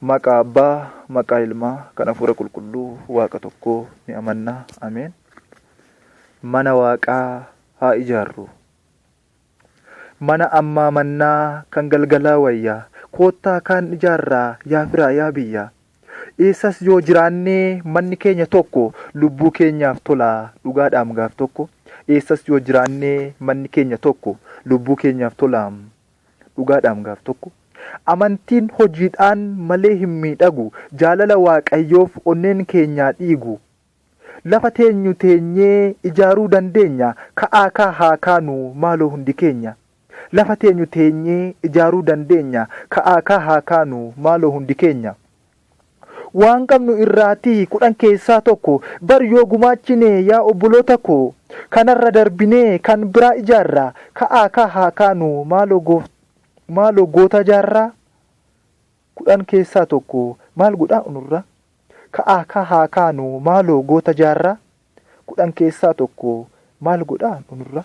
Maqaa Abbaa, maqaa Ilmaa, kan Hafuura Qulqulluu, Waaqa tokkoo ni amanna. Ameen. Mana Waaqaa haa ijaarru. Mana ammaa mannaa kan galgalaa wayyaa. Koottaa kaan ijaarraa yaa firaa yaa biyyaa. Eessas yoo jiraannee manni keenya tokko lubbuu keenyaaf tolaa dhugaadhaam gaaf tokko. Eessas yoo jiraannee manni keenya tokko lubbuu keenyaaf tolaam Dhugaadhaam gaaf tokko Amantiin hojiidhaan malee hin miidhagu Jaalala waaqayyoof onneen keenyaa dhiigu Lafa teenyu teenyee ijaaruu dandeenya Ka'aa kaa haa kaanu maaloo hundi keenya Lafa teenyu teenyee ijaaruu dandeenya Ka'aa kaa haa kaanu maaloo hundi keenya. Waan qabnu irraati kudhan keessaa tokko bar yoo gumaachine yaa obboloota koo kanarra darbinee kan biraa ijaarra ka'aa kaa haa kaanu maaloo gooftaa maaloo goota jaarraa kudhan keessaa tokko maal godhaa unurra ka'aa kaa haa kaanu maaloo goota jaarraa kudhan keessaa tokko maal godhaa unurra.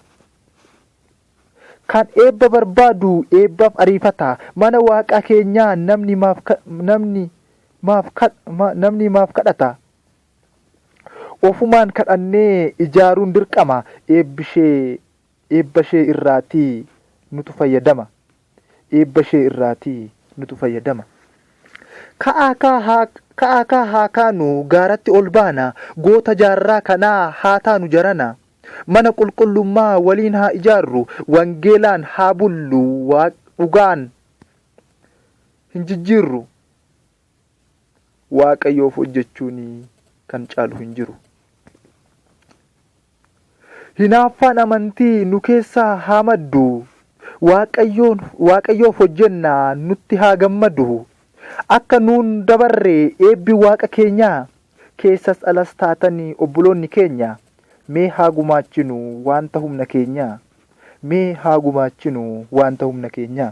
Kan eebba barbaadu eebbaaf ariifata, mana Waaqa keenyaa namni maaf namni maaf namni maaf kadhata? Ofumaan kadhannee ijaaruun dirqama, eebbishee eebbashee irraati nutu fayyadama eebbashee irraati nutu fayyadama. Ka'aa kaa haa ka'aa kaa haa kaanu gaaratti ol baana, goota jaarraa kanaa haa taanu jarana. Mana qulqullummaa waliin haa ijaarru, wangeelaan haa bullu, waaq dhugaan hin jijjiirru. Waaqayyoof hojjechuun kan caalu hin jiru. Hinaaffaan amantii nu keessaa haa maddu. Waaqayyoon Waaqayyoof hojjennaa nutti haa gammadu. Akka nuun dabarre eebbi Waaqa keenyaa, keessas alas taatani obboloonni keenya, mee haa gumaachinu waanta humna keenyaa. Mee haa gumaachinu waanta humna keenyaa.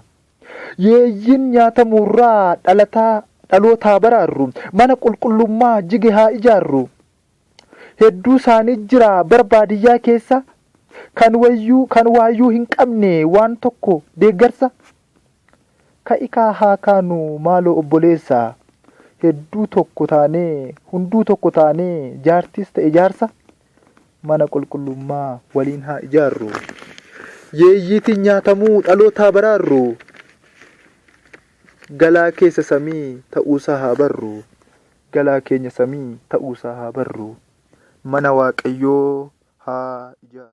Yeeyyiin nyaatamuu irraa dhalataa dhaloota haa baraarru. Mana qulqullummaa jige haa ijaarru. Hedduu isaanii jira bara baadiyyaa keessa kan wayyuu kan waayyuu hin qabne waan tokko deeggarsa. Ka'ikaa haa kaanu maaloo obboleessa hedduu tokko taanee hunduu tokko taanee jaartiis ta'e jaarsa mana qulqullummaa waliin haa ijaarru yeeyyiitiin nyaatamuu dhalootaa baraarru galaa keessa samii ta'uusaa haa barru galaa keenya samii ta'uusaa haa barru mana waaqayyoo haa ijaarru.